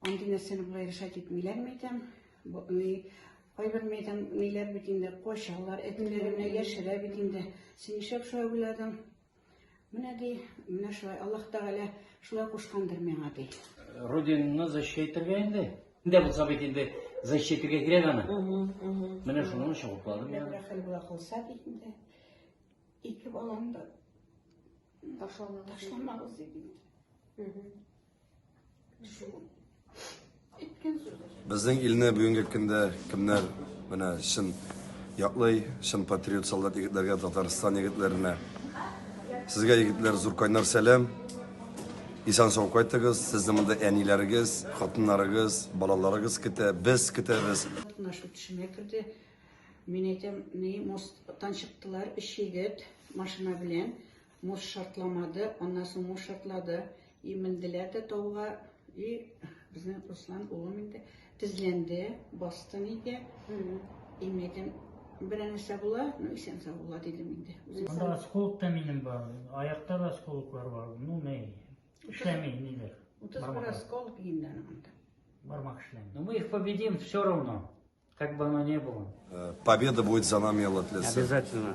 Андый нәрсәне болай решать итмиләр микән? Бу ни кайбер мәйдан ниләр бит инде качалар, әтиләренә яшерә бит инде. Син нишләп шулай уйладың? Менә ди, менә шулай Аллаһ Тәгалә шулай кушкандыр миңа ди. Родинаны защитергә инде. Инде булса бит инде защитергә кирәк аны. Менә шуның өчен укладым я. Рәхәл була кылса бит инде. Ике балам да ташламагыз дип. Безнең илне бүгенге көндә кемнәр менә чын яклый, чын патриот солдат егетләргә, Татарстан егетләренә. Сезгә егетләр зур кайнар сәлам. Исән сау кайтыгыз. Сезне монда әниләрегез, хатыннарыгыз, балаларыгыз көтә, без көтәбез. Катнашу төшемә керде. Мин әйтәм, ни, мосттан чыктылар, өч егет машина белән. Муж шартламады, аннан соң муж шартлады. И менделәр дә тауга, и безнең Руслан улым инде тезләнде, басты нигә. Имәген бер нәрсә була, ну исән сау була дидем инде. Анда осколок та минем бар, аякта да осколоклар бар. Ну не, эшләми ниләр. Утыз бер осколок инде анда. Бармак эшләми. Но мы их победим все равно, как бы оно ни было. Э, победа будет за нами, Алла Обязательно.